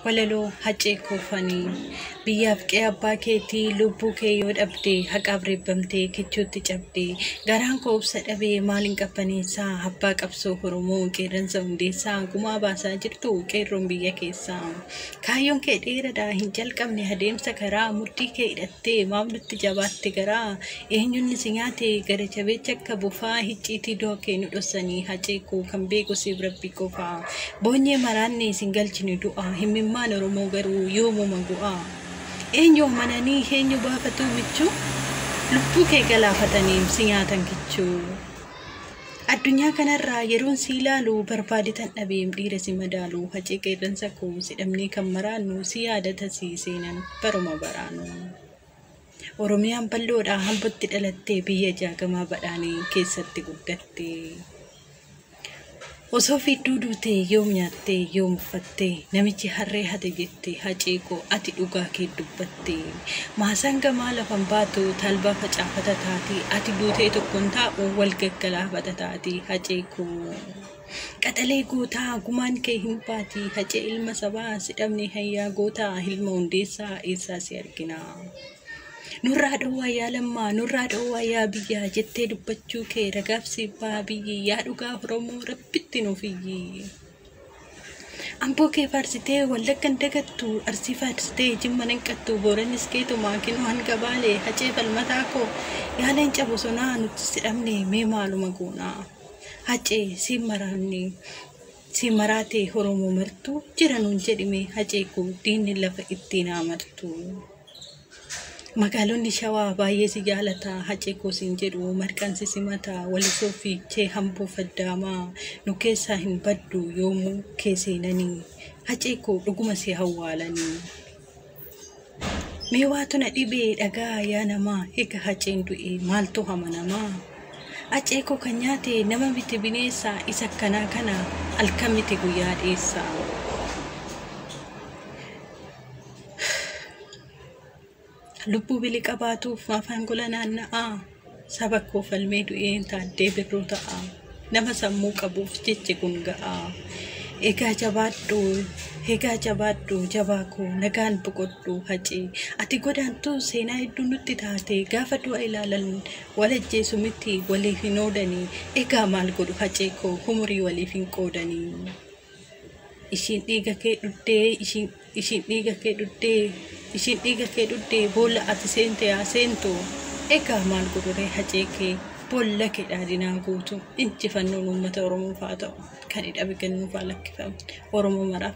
Walaloo Haccee Koofanii Biyyaaf qe'ee abbaa keetii lubbuu kee yoo dhabde haqaaf reebbamtee kichuutti cabde garaan koo obsa dhabe maaliin qabbaneessaa abbaa qabsoo Oromoo qeerransa hundeessaa gumaa baasaa jirtu qeerroon biyya keessaa kaayyoon kee dheeradha hin jalqabne adeemsa karaa mudhii kee hidhattee maaf nutti jabaatte garaa Eenyunni si nyaate gara jabeecha akka bofaa hicciitii du'a kee nu dhossanii hacee koo kan beeku siif rabbi qofaa boonyee maraanne isin galchine du'a himmimmaan oromoo garuu yoomuma gu'a eenyu amananii eenyu baafatuu michuu lubbuu kee galaafataniim si nyaatan kichuu addunyaa kanarraa yeroon si ilaalu barbaadetan dhabeem dhiira si madaalu hacee qeerransa koo si dhabnee kan maraannu si yaadata si seenan baruma baraanuu. Oromiyaan bal'oodha Ambotti dhalattee biyya jaagamaa badhaanee keessatti guddattee. Osoo fiidduu duutee yoom nyaattee yoom uffattee namichi harree hate jette hacee koo ati dhugaa kee dubbattee. Maasaan gamaa lafan baatu talbaa facaafata taati ati buutee tokkon taa'u wal gaggalaafata taati hacee koo. Qaxalee gootaa gumaan kee hin baati hacee ilma sabaa si dhabne hayyaa gootaa ilma hundeessaa eessaa si arginaa. Nurraa dhowwaa yaa lammaa nurraa dhowwaa yaa biyyaa jettee dubbachuu kee ragaaf siif baha biyyi yaa dhugaa Oromoo rabbitti nuuf iyyii. Amboo kee faarsitee wallaggan dagattu arsii faarsitee jimma nanqattu booranis keetumaa kinoo hanga baalee hacee falmataa koo yaa leenca bosonaa nuti si dhabne mee maaluma goonaa. Hacee siin maraanne siin maraatee Oromoo martuu jira nuun jedhime Hacee koo diinni lafa ittiin haa martuu. Magaalonni shawaa baay'ee si jaalata Hacee koo siin jedhu marqaan si simata walisoo fiichee hamboo faddaamaa nu keessaa hin baddu yoomuu kee seenanii Hacee koo dhuguma si hawwaalanii. Mee waatu na dhibee dhagaa yaa namaa Ega haceen du'ee maaltu hama namaa Acee koo kan nyaate nama miti bineessa Isa akkanaa kana alkan miti guyyaa dheessa Lubbuu bili qabaatuuf maafaan gola naanna'aa Saba koo falmee du'een taaddee birruu ta'a. Nama sammuu qabuuf jechi kun ga'a. Egaa jabaadhu, egaa jabaadhu jabaa koo nagaan boqodhu haci. Ati godaantuu seenaa hedduu nutti taate gaafa du'a ilaalan wal ajjeesu miti waliif hin oodani. Egaa maal godhu hacee koo humurii waliif hin qoodani. Ishiin dhiiga kee dhugde, ishiin, ishiin dhiiga kee dhugde, ishiin dhiiga kee dhugde, boolla ati seente haa seentu. Egaa maal godhuree hacee kee boolla kee dhaadinaa guutu injifannoon uummata Oromoof haa ta'u. Kan hidhame kennuuf haa lakkifamu. Oromoo maraaf